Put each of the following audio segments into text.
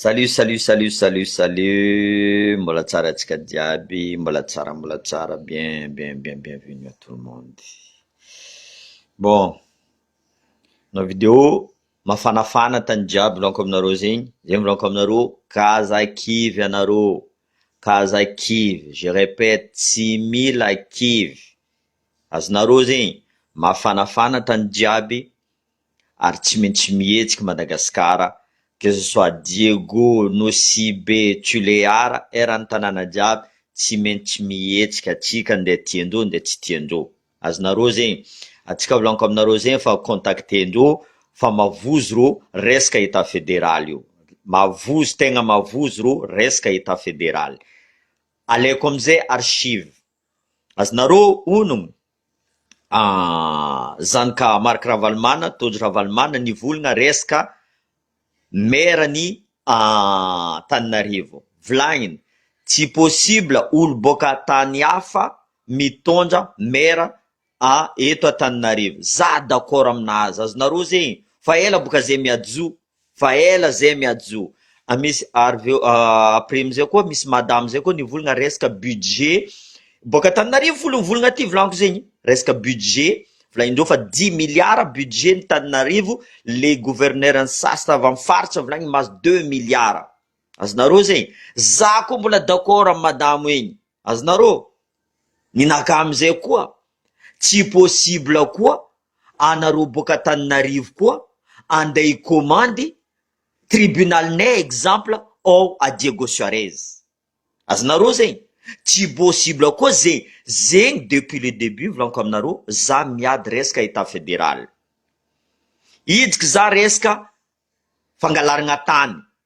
Salut salut salut salut salut mbola tsara atsika jiaby mbola tsara mbola tsara bien bien bien bien venu à tout le monde bon na video mafanafana tany jiaby milaoniko aminareo zegny zay milaoniko aminareo ka aza kivy anareo ka aza kivy je repète tsy mila kivy azonareo zegny mafanafana tany jiaby ary tsy maintsy mihetsiky Madagasikara que ce soit Diego, Nosibe, Tulear, eran'ny tanàna jiaby tsy maintsy mihetsiky atsika ndeha tian-droa ndeha tsy tian-droa. Azonareo zegny? Atsika volaniko aminareo zegny fa contacter-ndreo fa mavozo rô resaka Etat Fédéral io. Mavozo tegna mavozo rô resaka Etat Fédéral. Alaiko amizay archive. Azonareo ono an zany ka Marc Ravalomanana, Tojo Ravalomanana nivolgna resaka maire ny Antananarivo. Volagniny tsy possible olo boaka tany hafa mitondra maire a eto Antananarivo za d'accord aminazy azonareo ze fa ela boka ze miajo fa ela ze miajo misy ariveo après amizay koa misy madame zay koa nivolagna resaka budget boka Antananarivo folo ny volagna ty volagniko zegny resaka budget volagnindreo fa dimy milliards budget ny Antananarivo le gouverneur ny sasany avy aminy faritra volagny mahazo deux milliards azonareo ze za koa mbola d'accord amy madamo egny Azonareo? Ny naka amizay koa tsy possible koa anareo boaka Antananarivo koa andeha hikomandy tribunal nay exemple ao à Diego Suarez. Azonareo zegny? Tsy possible koa ze zegny depuis le debut volaniko aminareo za miady resaka etat federal. Idriky za resaka fangalaragna tany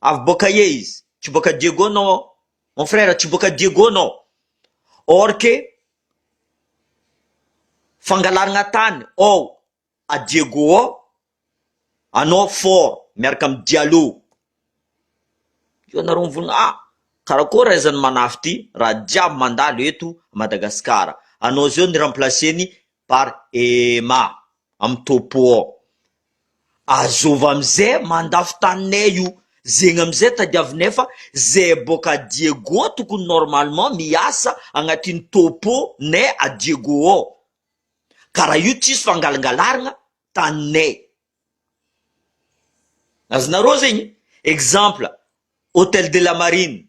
Avy boaka aia izy? Tsy boaka Diego non aho Mon frère tsy boaka Diego non or que fangalaragna tany ao a Diego ao anao fort miaraka am Diallo io anareo mivonona ah karakôry ra izany manafy ty raha jiaby mandalo eto Madagascar anao zao ny remplacer ny Bar ema am topo ao. Azova amze mandafo taninay io zegny amze tadiavinay fa ze boka a Diego tokony normalement miasa agnatiny topo nay a Diego ao ka raha io tsisy fangalangalaragna taninay azonareo zegny exemple hotel de la marine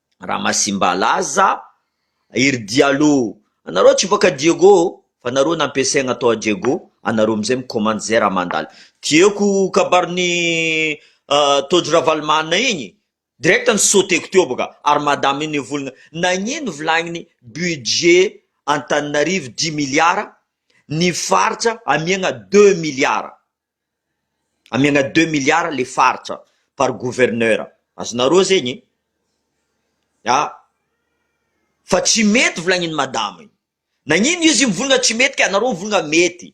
Ramasimbalaza, iry Diallo anareo tsy bôka Diego fa nareo nampiasaigna tao a Diego anareo amizay mikomandy zay raha mandalo Diego kabarin'i Tojo Ravalomanana igny direct ni sauter-ko teo bôka ary madama io nivolagna nagnino volagniny budget Antananarivo dimy milliards ny faritra amiagna deux milliards Amiagna deux milliards le faritra par gouverneur, azonareo zegny a, fa tsy mety volagniny madama io, nagnino izy mivolagna tsy mety ka anareo mivolagna mety,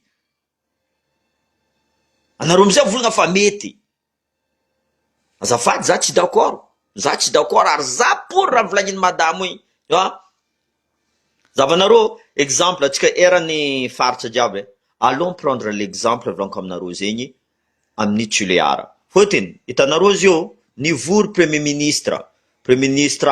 anareo amizay mivolagna fa mety. Azafady za tsy d'accord, za tsy d'accord ary za pour raha volagniny madamo igny fa zavanareo exemple antsika eran'ny faritra jiaby allons prendre l'exemple volaniko aminareo zegny amin'ny tulear fotony itanareo zio nivory premier ministre, premier ministre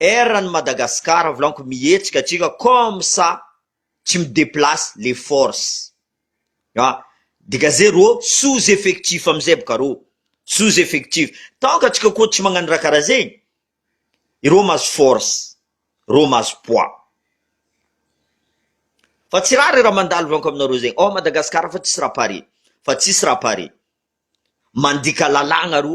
Erra ny Madagascar vlanko mihetsika atsika comme ça tsy mi deplace les force a degagez rô sous effectif amizay bka rô sous effectif tant ka tsika koa tsy magnano raha karaha zegny irô mahazo force rô mahazo poids fa tsy rare raha mandalo vlanko aminarô zegny ao Madagascar fa tsisy raha pare fa tsisy raha pare mandika lalagna rô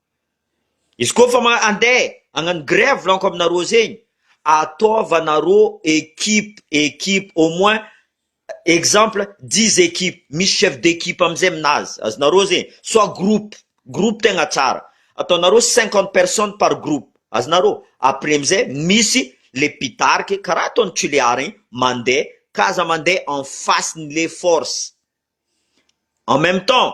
Izy koa fa andeha hagnano grève lanko aminareo zegny, ataovanareo equipe equipe au moins exemple dix equipes misy chef d'equipe amizay aminazy, azonareo zegny soit groupe groupe tegna tsara ataonareo cinquante personnes par groupe, azonareo? après amizay misy le mpitarika karaha ataon'i Tulear igny mandeha ka aza mandeha en face-n'ny le force, en même temps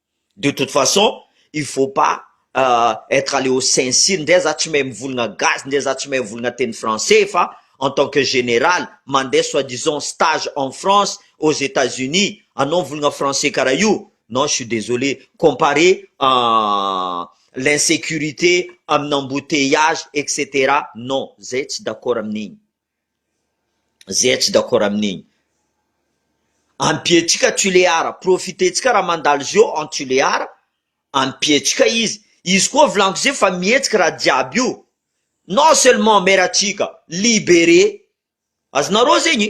de toute façon il faut pas etre aller au sincir ndray za tsy mahay mivolgna gasy ndray za tsy mahay mivolgna teny français fa en tant que general mandeha soit disant stage en France aux etats unis anao mivolgna français karaha io non je suis desolé comparer l'insecurite amina embouteillage etc non zay tsy d'accord amin'igny. Zay tsy d'accord amin'igny. Ampiantsika Tulear, profiter-tsika raha mandalo izy eo en Tulear, ampiantsika izy, izy koa volaniko zay fa mihetsika raha jiaby io, non seulement maire-tsika liberer azy nareo zegny.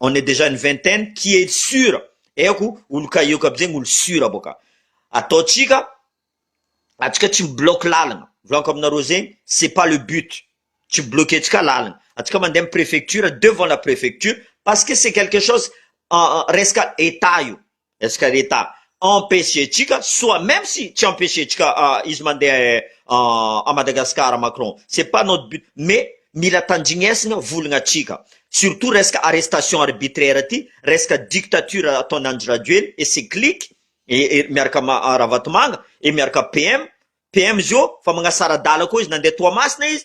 on est dejà une vingtaine qui est sur eoko olo kahiako aby zegny olo sur boka ataontsika atsika tsy mi bloque lalagna volako aminareo zegny c'est pas le but tsy mi bloque tsika lalagna atsika mande am prefecture devant la prefecture parce que c'est quelque chose resaka etat io. Est-ce que l'Etat empêche-tsika soit même si tsy empêche-tsika izy mandeha à Madagascar Macron c'est pas notre but mais mila tanjignesina volagnatsika surtout resaka arrestation arbitraire ty resaka dictature ataon'i Andry Rajoely et ses cliques et miaraka am Ravatomanga et miaraka PM PM zio fa magnasara adala koa izy nandeha Toamasina izy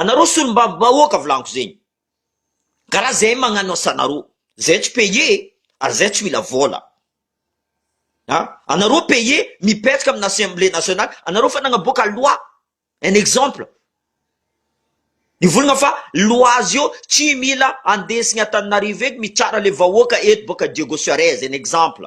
Anareo solombavy vahoaka volagno zegny ka raha zay magnano asanareo zay tsy paye ary zay tsy mila vôla a anareo paye mipetraka amina assemblée nationale anareo fa nagnaboaka loi un exemple nivolagna fa loi zio tsy mila andesigny antananarivo eto mitsara le vahoaka eto boka diego suarez un exemple.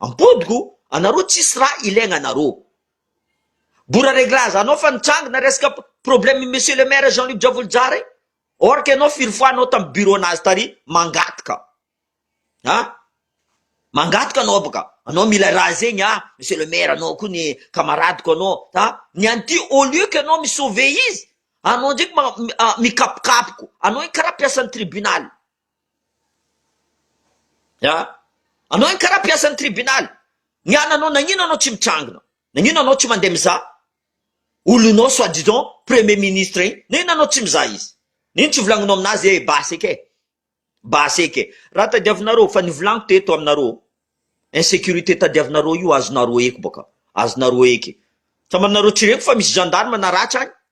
Ampodiko anareo tsisy raha ilaigna anareo. Bora reglage anao fa nitrangna resaka problème monsieur le maire Jean Luc Javolojary or que enao firy fois anao tam bureau nazy tary mangataka a mangataka anao baka anao mila raha zegny a monsieur le maire anao ko ny camaradeko anao a ny anty au lieu que enao mi sauver izy anao ndreky mikapokapoko anao kara piasan'ny tribunal An! Anao anie karaha mpiasan'ny tribunaly, ny ananao nagnino anao tsy mitrangina, nagnino anao tsy mandeha mizaha olonao soit disant premier ministre igny, nagnino anao tsy mizaha izy, nagnino tsy volagninao aminazy ee basy eky ee, basy eky ee, raha tadiavinareo fa ny volagniko teto aminareo insecurite tadiavinareo io azonareo eky bôka, azonareo eky, sambany nareo tsy reniko fa misy gendarme naratra agny,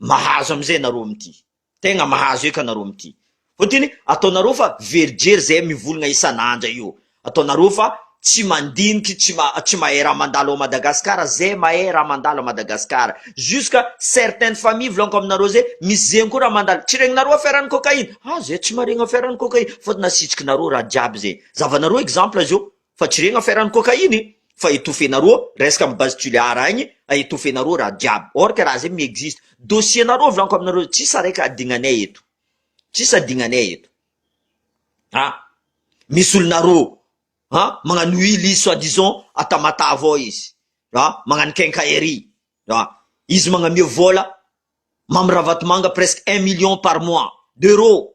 Mahazo amizay nareo mity. Tegna mahazo eka nareo mity. Fotiny ataonareo fa very jery zay mivolagna isan'andra io. Ataonareo fa tsy mandiniky tsy tsy mahay raha mandalo ao Madagascar zay mahay raha mandalo à Madagascar. Jusqu'à certaines famille volanko aminareo zay misy zegny koa raha mandalo tsy regnareo affaire an'i cocaïne. Ah zay tsy maregny affaire an'i cocaïne fotony asitrikinareo raha jiaby zay. Zavanareo exemple zio. Fa tsy regny affaire ny cocaïne fa étouffer nareo resaka am base Tulear agny a étouffer nareo raha jiaby or que raha zay mi-existe dossier nareo volaniko aminareo tsisy araiky adignanay eto tsisy adignanay eto a misy olonareo a magnano huile izy soit disant a Tamatave ao izy a magnano quincaillerie a izy magnamia vola Mamy Ravatomanga presque un million par mois d'euros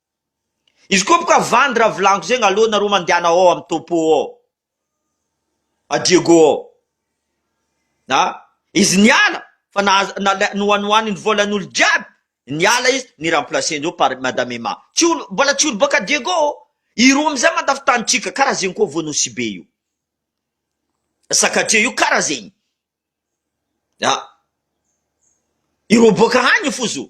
Izy koa boka vandy raha vilaniko zegny aleo nareo mandehana ao am topo ao a Diego ao a izy niala fa nahazo nalai- nohanohaniny volan'olo jiaby niala izy ni remplacer ndreo par madame Emma tsy olo mbola tsy olo boka Diego ô i roa amizay mandafintanitsika kara zegny koa vo Nosibe io Sakatia io kara zegny a ireo boka hagny foza o.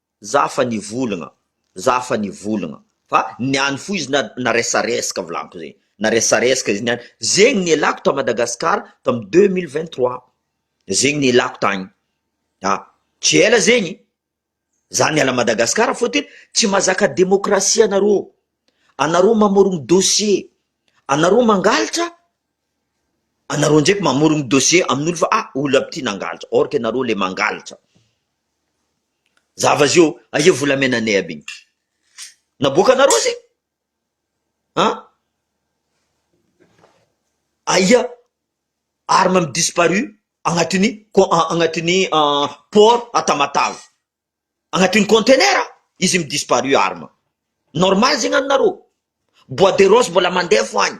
Za fa nivolagna, za fa nivolagna fa niany fo izy na na resareska volaniko zegny, na resareska izy niany, zegny nialako ta Madagascar tam deux mille vingt trois, zegny nialako tagny, a tsy ela zegny za niala Madagascar fôtony tsy mazaka demokrasia anarô, anarô mamorogno dossier, anarô mangalatra, anarô ndraiky mamorogno dossier amin'olo fa a olo aby ty nangalatra, or ka anarô le mangalatra. Za va zio aia volamenanay aby iny naboakanareo zay an aia arme mi disparu agnatin'ny agnatin'ny port à Tamatave agnatin'ny contenaire a izy mi disparu arme normal zegny aminareo bois de rose mbola mandeha fo agny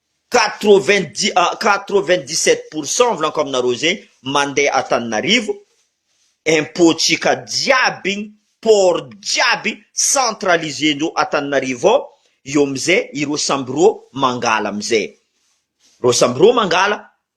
Quatre-vingt-dix sept pour cent volanko aminareo zegny mandeha Antananarivo, impôt tsika jiaby igny, port jiaby centralisé ndreo Antananarivo ao, eo amizay ireo samby reo mangala amizay, reo samby reo mangala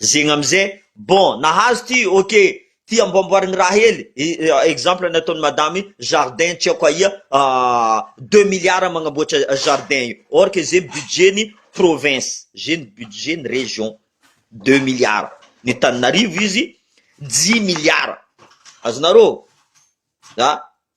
zegny amizay bon nahazo ty ok ty amboamboarigny raha hely exemple ny ataony madame jardin tsy aiko aia deux milliards magnamboatra jardin io or que ze budget ny province ze ny budget ny region deux milliards ny taninarivo izy dix milliards azonareo za.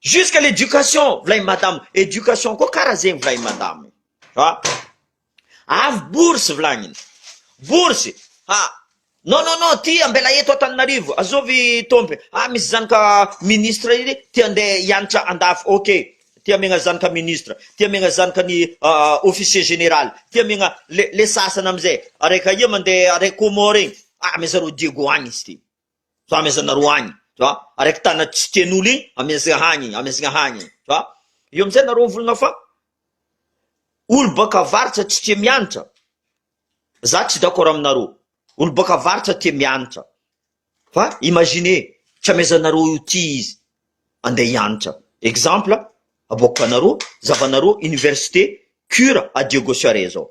Jusque l'éducation volain'i madame, éducation koa kara zegny volain'i madame fa avy bourse volagniny, bourse ha non non non ty ambela eto Antananarivo azovy tompy ah misy zanaka ministre iny te ande hianatra andafy ok te hamegna zanaka ministre te hamegna zanaka ny officier général te hamegna le le sasany amizay araiky aia mande araiky Comore egny ah mais zareo Diego agny izy ty. tu vois amy aza nareo agny tu vois araiky tana tsy tian'olo igny amy aza hagny amy aza hagny tu vois eo amizay nareo mivolagna fa olo baka avaratra tsy tia mianatra za tsy d'accord aminareo olo baka avaratra tia mianatra fa imagine tsy amy aza nareo io ty izy andeha hianatra exemple aboakanareo zavanareo université cure à diego charest zao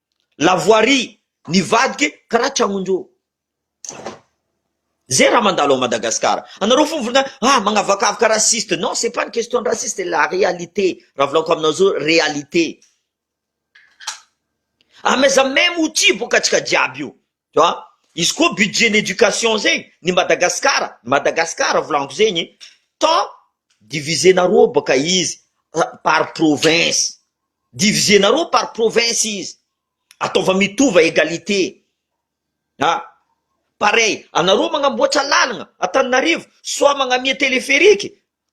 La voirie nivadika karaha tragnon'ireo zay raha mandalo ao Madagascar. Anareo fo volana ah magnavakavaka raciste non c'est pas une question de raciste c'est la réalité raha volagniko aminao zao réalité. Amaiza même outil boka antsika jiaby io Tu vois? Izy koa budget ny éducation zegny ny Madagascar, ny Madagascar volaniko zegny tant diviser-nareo bôka izy par province, diviser-nareo par province izy, ataova mitova égalité a, pareil anareo magnamboatra lalagna Antananarivo soit magnamia téléphérique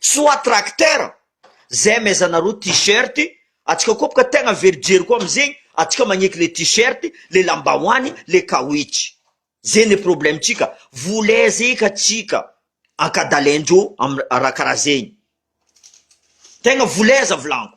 soit tracteur zay amaizanareo t-shirt atsika koa boka tegna very jery koa amizegny atsika magneky le t-shirt le lambahoany le kawitch zay le problème tsika vola aiza eka tsika ankadalaindreo am- raha karaha zegny tegna vola aiza volanko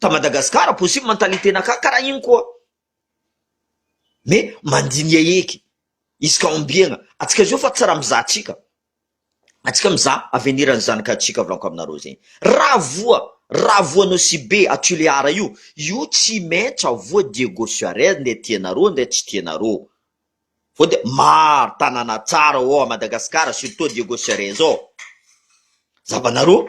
ta Madagascar possible mentalité nakà karaha iny koa mais mandinia eky izy ka ombiagna atsika zao fa tsy raha mizaha atsika atsika mizaha avenir an'ny zanaka atsika volako aminareo zegny raha voa raha voanao sy be à Tulear io io tsy maintsy avoa Diego Suarez ndray tianareo ndray tsy tianareo vao dia maro tanàna tsara ô à Madagascar surtout Diego Suarez ô zabanareo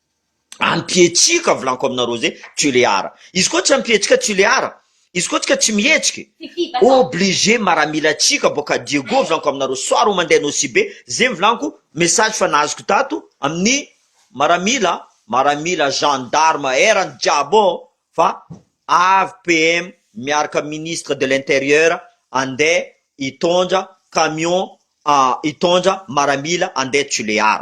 Ampihetsika volanko aminareo zay Tulear. Izy koa tsy ampihetsika Tulear. Izy koa tsika tsy mihetsika. Obligé maramila tsika boka Diego volanko aminareo soir ho mandeha Nosibe zay ny volanko message fa nazoko tato amin'ny maramila maramila gendarme erany jiaby ô fa avy PM miaraka ministre de l'intérieur andeha hitondra camion hitondra maramila andeha Tulear.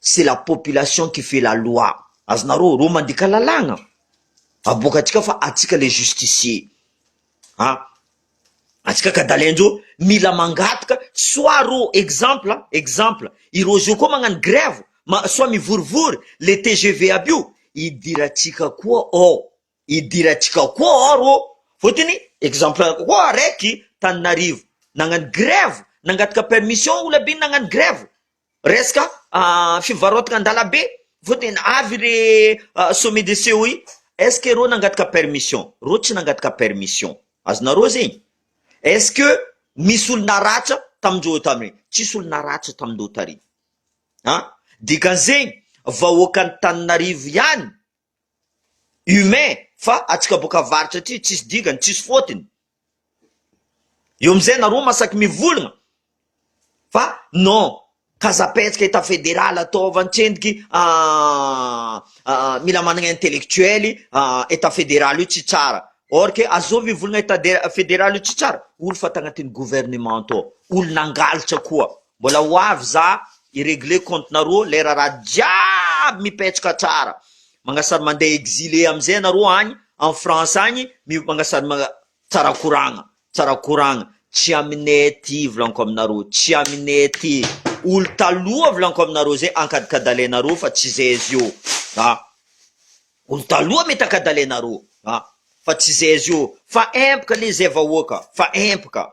c'est la population qui fait la loi, azonareo reo mandika lalàna aboaka antsika fa antsika le justicie an, antsika ka dalainjo mila mangataka soit reo exemple an, exemple ireo zeo koa magnano grève ma soit mivorivory le tgv aby io hidirantsika koa ao, hidirantsika koa ao reo fotony exemple anako koa raiky taninarivo nagnano grève nangataka permission ola be nagnano grève Resaka fivarotana an-dalambe vao tena avy le sommet de COI, est-ce que reo nangataka permission? Reo tsy nangataka permission, azonareo zegny? Est-ce que misy olo naratra tamin-dreo tany? Tsisy olo naratra tamin-dreo tary an! Dikan'izegny vahoakan'Antananarivo ihany humain fa atsika boka avaritra aty tsisy dingany tsisy fotiny eo amizay nareo masaky mivolagna fa non kazapetsika etat federal ataova antsendiky aah mila managna intellectuel etat federal io tsy tsara or ke azoo mivolagna etat federal io tsy tsara olo fa tagnatiny gouvernement atao olo nangalatra koa Mbola ho avy za hi regler compte nareo lay raharaha jiaby mipetraka tsara magnasary mandeha exile amizay anareo agny en France agny mi magnasary ma tsara koragna tsara koragna tsy aminay aty volaniko aminareo tsy aminay aty olo taloha volaniko aminareo zay ankadikadalenareo fa tsy zay izy io a olo taloha mety ankadalenareo a fa tsy zay izy io fa empaka le zay vahoaka fa empaka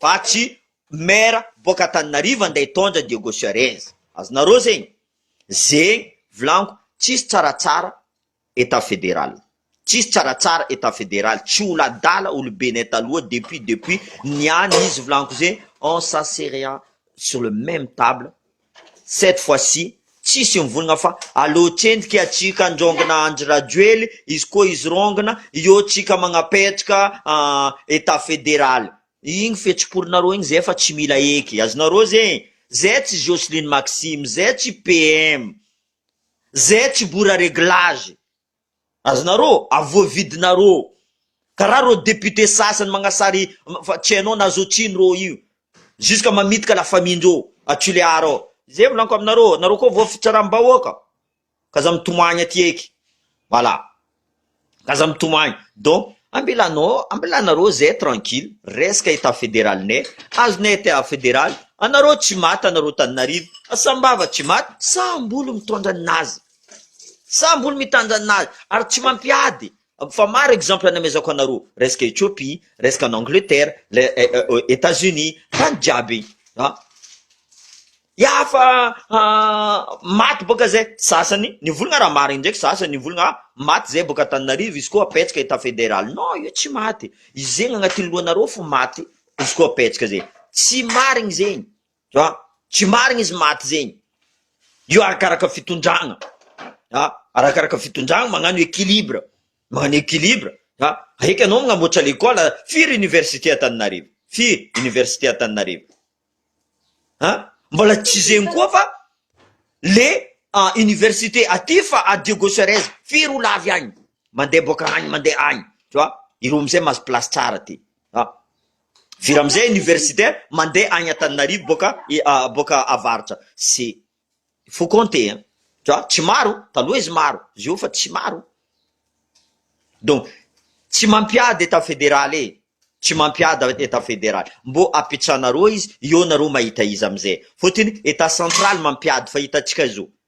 Fa tsy maire boaka Antananarivo andeha hitondra Diego Suarez. Azonareo zegny? Zegny volaniko tsisy tsaratsara etat federal. Tsisy tsaratsara etat federal, tsy olo adala olo Benin taloha depuis depuis niany izy volaniko zegny on s'asserea sur le meme table Cette fois ci tsisy mivongna fa aleo tsendriky atsika andraongna Andry Rajoely izy koa izy rongna eo tsika magnapetrka an etat federaly igny fetsiporinareo igny zay fa tsy mila eky azonareo zegny zay tsy Jocelyne Maxime zay tsy PM zay tsy bora reglage Azonareo a voavidinareo karaha reo député sasany magnasary fa tsy hainao na zo tsiny reo io jusque mamitka la famille ndreo a Tulear ao zay volanko aminareo nareo koa voa fitsaram bahoaka ka aza mitomagny aty eky voilà ka aza mitomagny donc ambilano ambilanareo zay tranquille resaka état fédéral nay azonay état fédéral anareo tsy maty anareo Tananarive sambava tsy maty saham bolo mitondra ny nazy. Sambo ny mitandrina an'azy ary tsy mampiady fa maro exemple namezako anareo resaka Ethiopie, resaka any Angleterre, Etats Unis tany jiaby iny a! Ya fa maty boka zay sasany nivolagna raha marigny ndraiky sasany nivolagna ah! maty zay boka Antananarivo izy koa apetraka etat federal, non io tsy maty, izegny agnatin'ny lohanareo fo maty izy koa apetraka zay, tsy marigny zegny. ah, tsy marigny izy maty zegny, io arakaraka fitondragna ah, arakaraka fitondragna magnano equilibre, magnano equilibre ah, eky anao magnamboatra lekôla, firy université Antananarivo, firy université Antananarivo ah, mbola tsy zegny koa fa le ah, université aty fa à Diego Suarez firy olo avy agny, mandeha boaka agny mandeha agny, tu vois, ireo amizay mahazo place tsara aty ah. Vira amizay université mande agny Antananarivo boka boka avaratra c'est faut compter hein fa tsy maro taloha izy maro zio fa tsy maro donc tsy mampiady etat federal e tsy mampiady etat federal mbo apitsanareo izy eo nareo mahita izy amizay fotony etat central mampiady fa hitantsika zao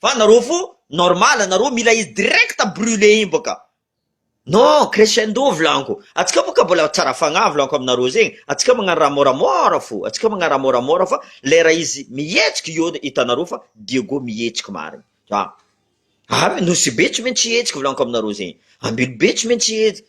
Fa nareo fo normal nareo mila izy direct brule iny boka non crescendo volaniko atsika boka mbola tsara fagnahy volaniko aminareo zegny atsika magnano raha moramora fo atsika magnano raha moramora fa lera izy mihetsiky eo hitanareo fa Diego mihetsiky marigny za ary nosy be tsy maintsy hihetsiky volaniko aminareo zegny ambelo be tsy maintsy hihetsiky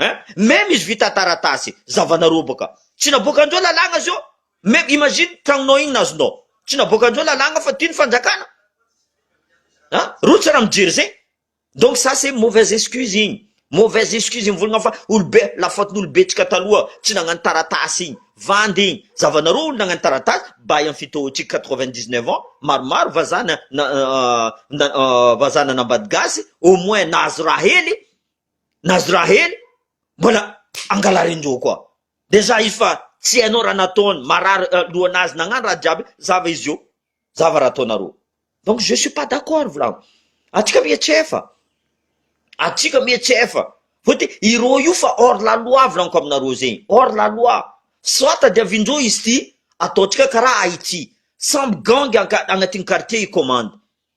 Hein? Même izy vita taratasy, zavana roboka. Tsy naboakandreo lalagna zao. Même imagine tragnonao igny nazonao. Tsy naboakandreo lalagna fa ty ny fanjakana. Hein? Roa tsy raha mijery zay. Donc ça c'est mauvaise excuse igny. Mauvaise excuse mivolagna fa olobe la faute n'olobentsika taloha tsy nagnano taratasy igny. Vandy igny. Zavanareo olo nagnano taratasy bay am fitohoantsika quatre vingt dix neuf ans maromaro vazaha na na vazaha nanambady gasy au moins nahazo raha hely nazy raha hely mbola angalarin-doha koa dejà izy fa tsy hainao raha nataony marary lohanazy nagnano raha jiaby zava izy io zava raha ataonareo donc je suis pas d'accord volagno atsika mihetsefa atsika mihetsefa fa de ireo io fa hors la loi volaniko aminareo zegny hors la loi soit tadiavin-dreo izy ty ataontsika karaha Haïti samby gangy agnatin'ny quartier i commande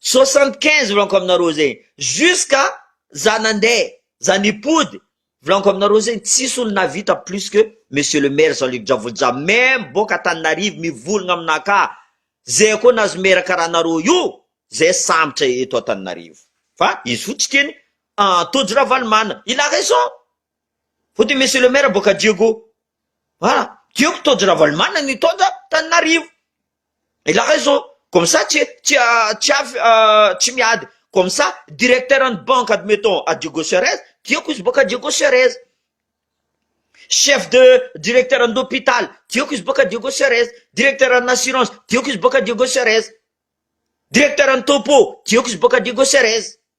Soixante quinze volaniko aminareo zegny jusqu'à za nande za nipody volaniko aminareo zegny tsisy olo nahavita plus que monsieur le maire Jean Luc Dravolja même boka Antananarivo mivolagna aminah ka zay koa nahazo maire karaha anareo io zay sambotra eto Antananarivo fa izy fo tsy tiany Tojo Ravalomanana il a raison fotony monsieur le maire boka Diego voilà tiako Tojo Ravalomanana ny hitondra Antananarivo. Ilay zao comme ça tsy tsy tsy avy tsy miady comme ça directeur an'ny banque admettons à Diego Cerez tiako izy boaka Diego Cerez chef de directeur an'ny hôpital tiako izy boaka Diego Cerez directeur an'ny assurance tiako izy boaka Diego Cerez directeur an'ny topo tiako izy boaka Diego Cerez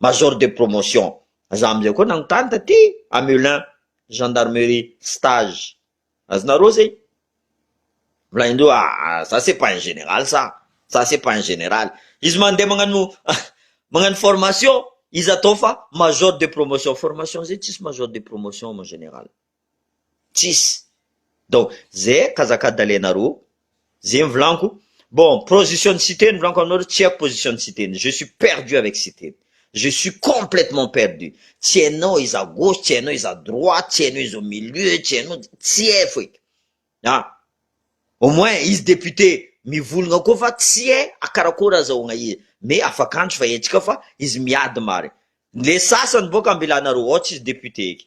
major de promotion, za amzay koa nanontany taty Hamelin gendarmerie stage azonareo zay, volaindreo aa za c'est pas un général ça, za c'est pas un général, izy mandeha magnano magnano formation izy atao fa major de promotion, formation zay tsisy major de promotion mon général. tsisy donc ze kazaka dalainareo ze mivolanko bon position ny siteny mivolanko aminareo tsy haiko position ny siteny je suis perdu avec siteny je suis complètement perdu tsy hainao iza gauche tsy hainao iza droite tsy hainao iza au milieu tsy hainao tsy hay foika a au moins izy député mivolagna koa fa tsy hay akarakory azahoagna izy mais afakandro fa haintsika fa izy miady marigny le sasany boka ambilanareo ao tsisy député eky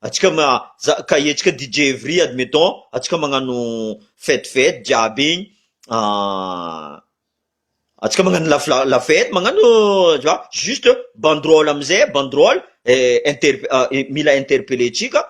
Atsika ka hetsika DJ Evry admettons atsika magnano fête fête jiaby igny atsika magnano la la la fête magnano tu vois juste banderole amizay banderole inter- mila interpelle tsika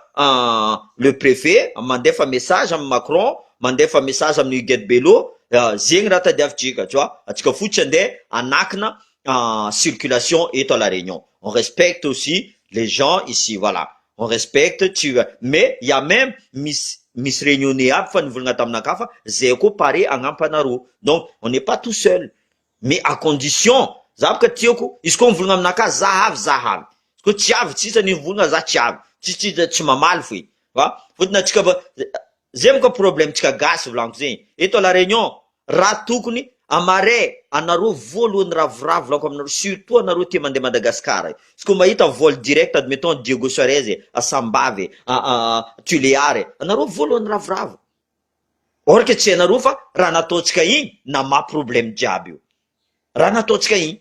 le prefet mandefa message amy Macron mandefa message amy Huguette Bello zegny raha tadiavitsika tu vois atsika fo tsy ande hanakina en circulation eto à la Réunion. On respecte aussi les gens ici voilà. On respecte tsy mais il y a même misy misy réunionnais aby fa nivolagna taminakahy fa zay koa pare hagnampana arô. Donc on n'est pas tout seul mais à condition za bôka tiako izy koa mivolagna aminakahy za avy za avy izy koa tsy avy tsisy anie mivolagna za tsy avy tsisy tsisy tsy mamaly foy fa fôtony antsika Zay monko problème tsika gasy volagno zay eto à la réunion ra tokony amare anareo voalohany ny ravoravo volako aminareo surtout anareo tia mande Madagascar io izy ko mahita vol direct admettons Diego Suarez e a Sambava e a a Tulear e anareo voalohany ravoravo or que tsy hainareo fa raha nataontsika igny na maha problème jiaby io raha nataontsika igny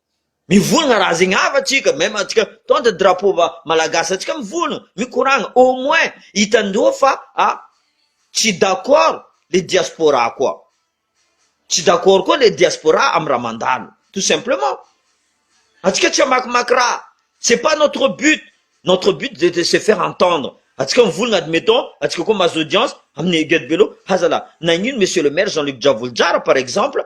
Mivolagna raha zegny ava tsika même atsika tant de drapeau va malagasy atsika mivolagna mikoragna au moins hitandreo fa a tsy d'accord le diaspora koa tsy d'accord koa le diaspora am raha mandalo tout simplement atsika tsy amakimaky raha c'est pas notre but notre but de de se faire entendre atsika mivolagna admettons atsika koa mahazo audience aminy Guedibello hazalahy nagnino monsieur le maire Jean Luc Dravolodrara par exemple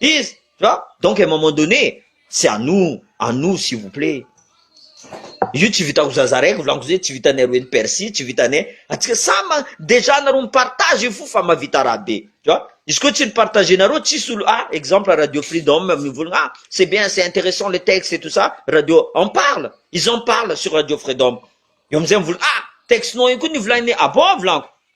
Izy tu vois donc à un moment donné tsy anuu anuu s'il vous plait io tsy vitan'ny zaza raiky volako zay tsy vitan'ny roa eny percy tsy vitan'ny atsika samy dejà nareo mi partage io fo fa mavita raha be tu vois izy koa tsy ni partage nareo tsisy olo ah exemple radio freedom mivolagna ah c'est bien c'est intéressant le texte et tout ça radio en parle ils en parle sur radio freedom eo amizay mivolagna ah texte nao io koa nivolagninay ah bon volako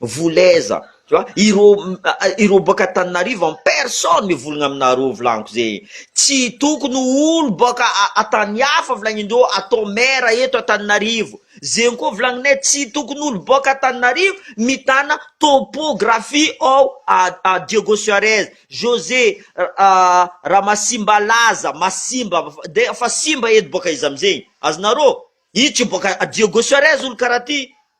Volez tu vois ireo ireo boaka Antananarivo en personne mivolgna aminareo volagnico zegny tsy tokony olo boaka tany hafa volagnindreo atao maire eto Antananarivo zegny koa volagninay tsy tokony olo boaka Antananarivo mitana topographie ao Diego Suarez Jose Ramasimbalaza Masimba de efa simba edy boaka izy amizegny azonareo io tsy boaka Diego Suarez olo karaha ty.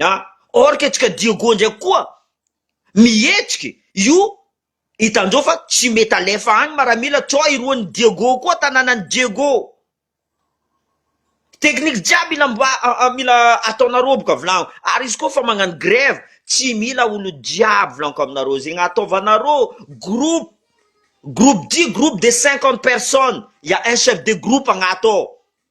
a or que antsika Diego ndraiky koa mihetsiky io hitandreo fa tsy mety alefa any maramila co iroan'ny Diego koa tananan'ny Diego technique jiaby mila mila ataonareo boka volagno ary izy koa fa magnano grève tsy mila olo jiaby volagniko aminareo zegny ataovanareo groupe groupe dit groupe de cinquante personnes ya un chef de groupe agnaty ao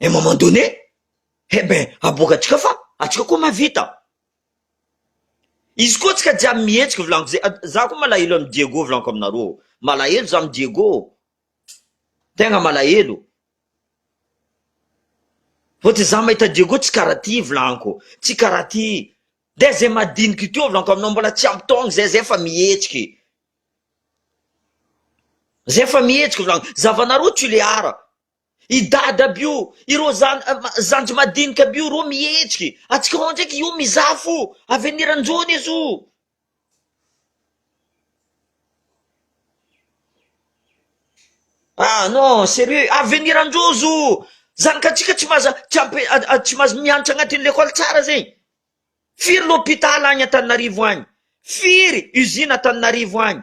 et à un moment donné eh ben aboaka antsika fa antsika koa mahavita izy koa antsika jiaby mihetsika volagno ze- za koa malahelo amin'i Diego volaniko aminareo malahelo za amin'i Diego tegna malahelo vao ty za mahita Diego tsy karaha ty volaniko tsy karaha ty de ze madiniky teo volaniko aminao mbola tsy ampy taogno zay zay efa mihetsika e zay efa mihetsika volaniko zavanareo tsilehara I dada aby io, ireo zandry madinika aby io rô mihetsiky, atsikaon ndraiky io mizaha fo, avenir anjo anie zo. Ah non, serieux, avenir anjo zo, zanakatsika tsy maza tsy ampe tsy maza miantra agnatin'ny lekôly tsara zegny, firy lopitala agny antananarivo agny, firy usine antananarivo agny,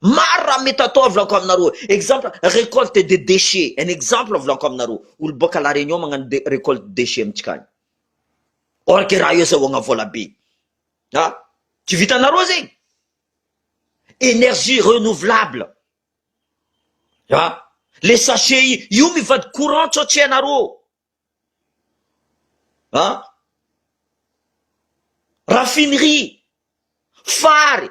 Maro raha mety atao volako aminareo exemple recolte de déchets un exemple volako aminareo olo boaka la réunion magnano de recolte de déchets amintsika any or que raha eo zay ohagna vola be a tsy vitanareo zegny énergie renouvelable a le sachet i io mivadi courant sao tsy hainareo a raffinerie fary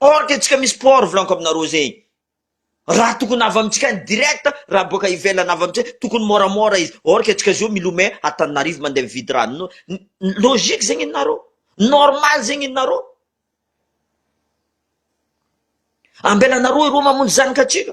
Or dia tsika misy port volaniko aminareo zay raha tokony avy amintsika any direct raha boaka ivelany avy amintsika tokony moramora izy or que tsika zao milomay Antananarivo mandeha mividy rano logique zegny nenareo normal zegny nenareo ambelanareo eroa mamonjy zanaka antsika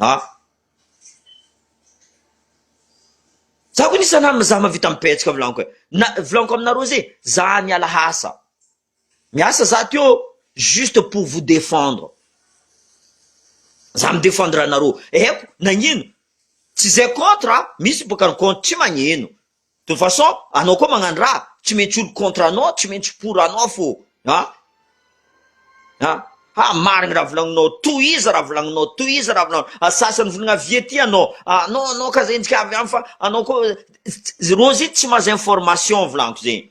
Ah. Za ko nisa namana za mavita mipetsaka vilaniko eh. Na vilaniko aminareo ze za miala hasa. Miasa za teo juste pour vous défendre. Za mi défendre anareo. Eko nagnino? Tsy zay contre a, misy bôka ny contre tsy magnino. De façon anao koa magnano raha tsy maintsy olo contre anao tsy maintsy pour anao fô a a ha marigny raha volagninao tohizo raha volagninao tohizo raha volagninao a sasany volagna avia ty anao a anao anao ka zegny tsy ka avy any fa anao koa rozy tsy mahazo information volagniko zegny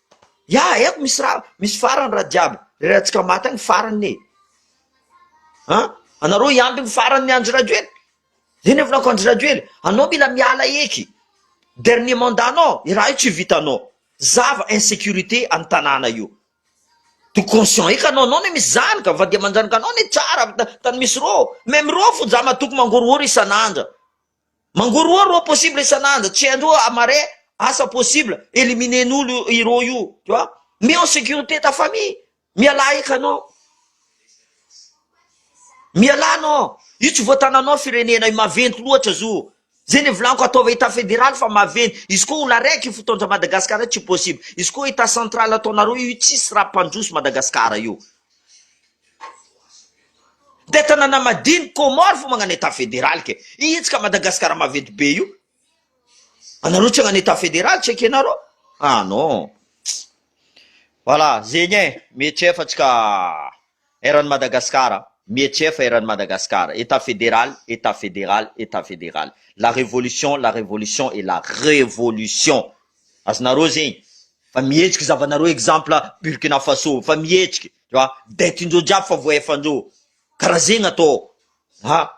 Ya eto misy ra misy farany ra jiaby rerantsika maty any farany e an! anareo hiampy ny farany ny Andry Rajoely zay ny hevinako Andry Rajoely anao mila miala eky dernier mandat nao i raha io tsy vitanao zava insécurité any tanàna io to conscient eky anao anao ne misy zany ka fa dia manjanaka anao ne tsara tany misy rô même rô fo zah matoky mangorohoro isan'andra Mangorohoro oh possible isan'andro tsy andro amare asa possible eliminer n'olo ireo io tu vois mets en sécurité ta famille mialà eky anao mialà anao io tsy voatananao firenena io maventy loatra zo zay le volaniko ataova etat fédéral fa maventy izy koa olo araiky fotoan-dra Madagascar tsy possible izy koa etat central ataonareo io tsisy raha mpandroso Madagascar io Dia tanàna madiny Comores fa magnana Etat federal ke. Izy ka Madagascar maventy be io. Anareo tsy hagnana Etat federal tsy ekenareo? Ah non. Voilà, zegny e, mihetsefa tsika eran'i Madagasikara, mihetsefa eran'i Madagasikara, Etat federal, Etat federal, Etat federal, la révolution, la révolution et la révolution. Azonareo zegny? Fa mihetsiky zavanareo exemple Burkina Faso, fa mihetsiky. Fa dia tiandreo jiaby fa voaefandreo ka raha zegny atao ha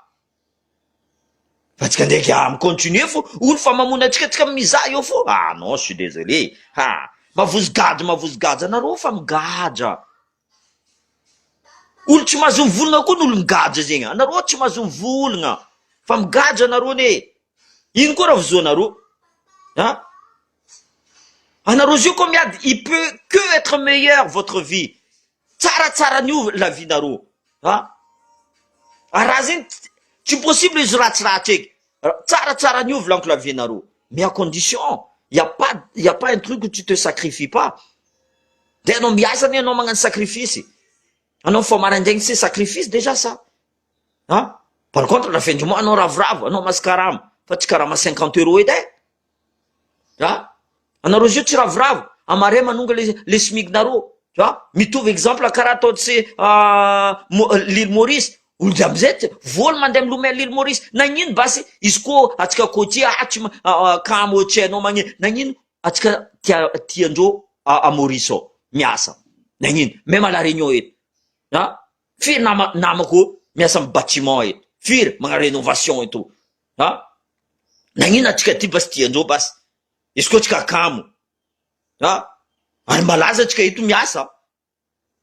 fa tsika ndraiky ah mi-continuer fo olo fa mamono antsika tsika mizaha eo fo ah non je suis désolé ha mavozo gadra mavozo gadra nareo fa migadra olo tsy mahazo mivolagna koa ny olo migadra zegny anareo tsy mahazo mivolagna fa migadra nareo anie ino koa raha vozoanareo ah. Ana Rosie ko miady il peut que etre meilleur votre vie tsaratsara ny ho la vie nareo a ary raha zegny tsy possible izy ratsiratsy eky tsaratsara ny ho volaniko la vie nareo mais à condition il ya pas il ya pas un truc où tu te sacrifies pas dia anao miasa anie anao magnano sacrifice anao mifoha maraindraigny c'est sacrifice déjà ça a par contre la fin du mois anao ravoravo anao masy karama fa tsy karama cinquante euros edy e ah anareo zio tsy ravoravo amare manonga le le smig nareo ah mitovy exemple karaha ataontsy lily maurice olona amizay tsy voany mandeha milomay lily maurice nagnino basy izy koa atsika cotier ah tsy kamo tsy hainao magne nagnino atsika tia tiandreo ah maurice zao miasa nagnino même à la réunion eto ah firy nama namako miasa amy batiment eto firy magna renovation eto Ha? Nagnino antsika ty basy ty andreo basy? Izy koa tsika kamo. Ha? Ary malaza tsika eto miasa.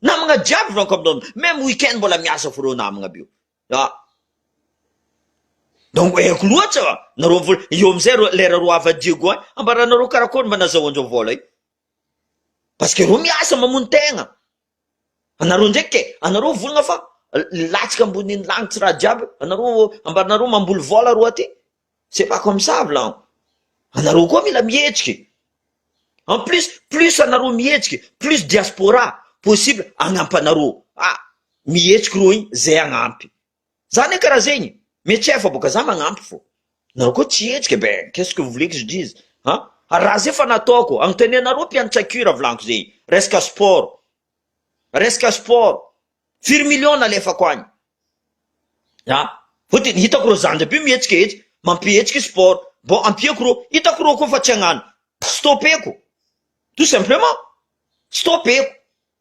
Namagna jiaby ranko aminao meme weekend mbola miasa fô reo namagna be. Ha? Donc haiko loatsa nareo vola eo amizay reo lera reo hava Diego any ambaranareo karakôry mba nazahoandreo vôla io. Parce que reo miasa mamono tegna. Anareo ndraiky e, anareo volana fa milatsaka ambonin'ny lagnitsy raha jiaby io, anareo ambaranareo mamboly vola ro aty, c'est pas comme ça vla an, anareo koa mila mihetsiky, en plus plus anareo mihetsiky plus diaspora possible agnampanareo, ah mihetsiky ro igny zay agnampy. Za ne karaha zegny, mais tsy hay fa boka za magnampy fô nareo koa tsy hetsika ben qu'est ce que vous voulez que je dise an, ary raha zay fa nataoko, agnontanianareo mpianatra cure volagniky zay, resaka sport, resaka sport, firy millions nalefako agny an, vao de hitako reo zandry aby mihetsika etsy, mampihetsika sport, bon ampiako reo, hitako reo koa fa tsy hagnano, stopeko, tout simplement, stopeko,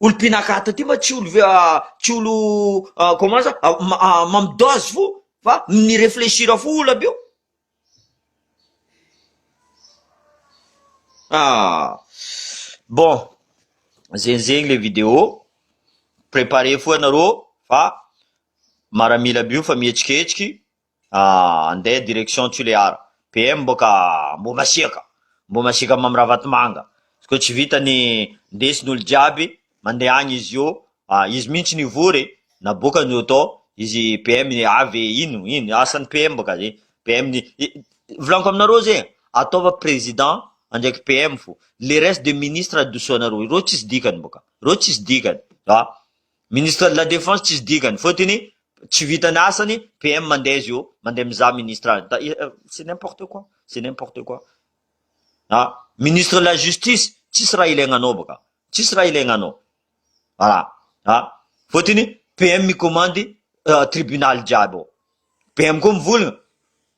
olo pinakaty aty mba tsy olo tsy olo comment ça mamy dose fo fa mi reflechir fo olo aby io ah bon zegny zegny le video prepare fo anareo fa maramila aby io fa mihetsiketsika Ah andeha direction Tulear. PM mbô ka mbô masiaka. Mbô masiaka Mamy Ravatomanga. Izy kô tsy vita ny ndesiny olo jiaby mandeha agny izy io ah izy mintsy nivory naboaka ny auto izy PM avy ino ino asany PM mbô ka zay. PM ny volagniko aminareo zay ataova président ndraiky PM fô le reste de ministre adosoanareo ireo tsisy dikany mbô ka. Ireo tsisy dikany ah. Ministre de la defense tsisy dikany fotony tsy vitany asany PM mandeha izy eo mandeha mizaha ministre azy da c'est n'importe quoi c'est n'importe quoi ah ministre de la justice tsisy raha ilaigna anao baka tsisy raha ilaigna anao voilà ah fotony PM mikomandy tribunal jiaby ao PM koa mivolagna